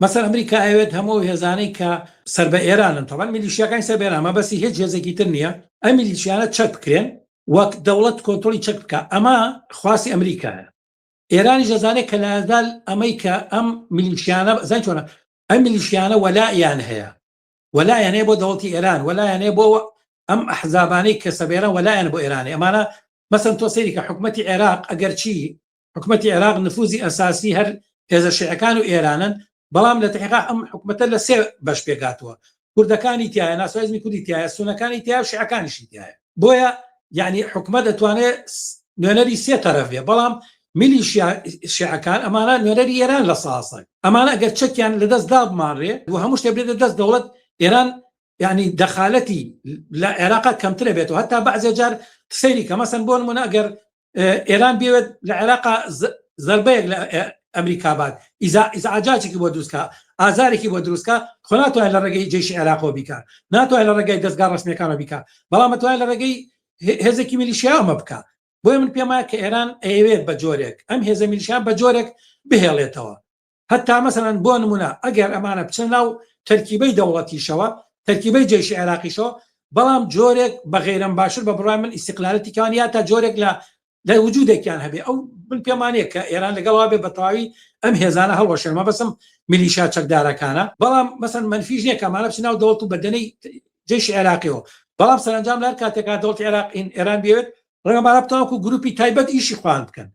مەسەن ئەمریکا ئەیەوێت هەموو ئەو هێزانەی کە سەر بە ئێرانن، تەبعەن میلیشیاکانی سەر بە ئێران، مەبەستی هێچ هێزێکی تر نییە، ئەم میلیشیانە چەک بکرێن و دەوڵەت کۆنترۆڵی چەک بکا، ئەمە خواستی ئەمریکایە. ئێرانیش ئەزانێت کە لەئەزەل ئەمەی کە ئەم میلیشیانە، زانی چۆنە، ئەم میلیشیانە وەلائیان هەیە، وەلائیان هەیە بۆ دەوڵەتی ئێران، وەلائیان هەیە بۆ ئەم ئەحزابانەی کە سەر بە ئێران، وەلائیان بۆ ئێرانە. ئەمانە مەسەن تۆ سەیری کە حکومەتی عێراق ئەگەرچی حکومەتی عێراق نفوزی ئەساسی هەر هێزە شعەکان و ئێرانن بەڵام لە تحقا ئەم حکومەتە لە سێ بەش پێکاتوە کوردەکانی تایە ناسوازمی کوردی تایە سونەکانی تیا و شعەکانیشی تایە بۆیە یعنی حکومە دەتوانێت نوێنەری سێ تەرەف بێ بەڵام ملی شعەکان ئەمانە نوێنەری ئێران لە ساسەک ئەمانە ئەگەر چەکیان لە دەست دابمانڕێ و هەموو شتێ بێت لە دەست دەوڵەت ئێران یعنی دەخالەتی لە عێراقا کەمترە بێتەوە هەتا بەعزێ جار سەیری کە مەسن بۆ نمونە ئەگەر ئێران بێت لە عێراقا زربەیەک لە ئەمریکا بات ئیزعاجاجێکی بۆ دروستکە ئازارێکی بۆ دروستکە خۆ ناتوانێت لە ڕێگەی جێشی عێراقەوە بیکە ناتوانێت لە ڕێگەی دەستگا ڕسمەکانەوە بیکە بەڵام مەتوانێت لە ڕێگەی هێزێکی میلیشیاومە بکە بۆیە من پێمە کە ئێران ئەیەوێت بە جۆرێک ئەم هێزە میلیشیان بە جۆرێک بهێڵێتەوە هەتا مەسەلەن بۆ نمونە ئەگەر ئەمانە بچنە ناو تەرکیبەی دەوڵەتیشەوە تەرکیبەی جەیشی عێراقیشەوە بەڵام جۆرێک بە غەیرەم باشتر بە بڕای من ئیسیقلالەتی کان یا تا جۆرێک لە لە وجودێکیان هەبێ ئەو من پێمانەیە کە ئێران لەگەڵا بێ بەتەواوی ئەم هێزانە هەڵوەشێن مەبەسم میلیشا چەکدارەکانە بەڵام مەسەن منفیش نیە کە مالە بچناو دەوڵت و بەدەنەی جێشی عێراقیەوە بەڵام سەرنجام لەر کاتێکا دەوڵت عێراق ئێران بێت ڕێمەبارە بتاوکو گروپی تایبەت ئیشی خوان بکەن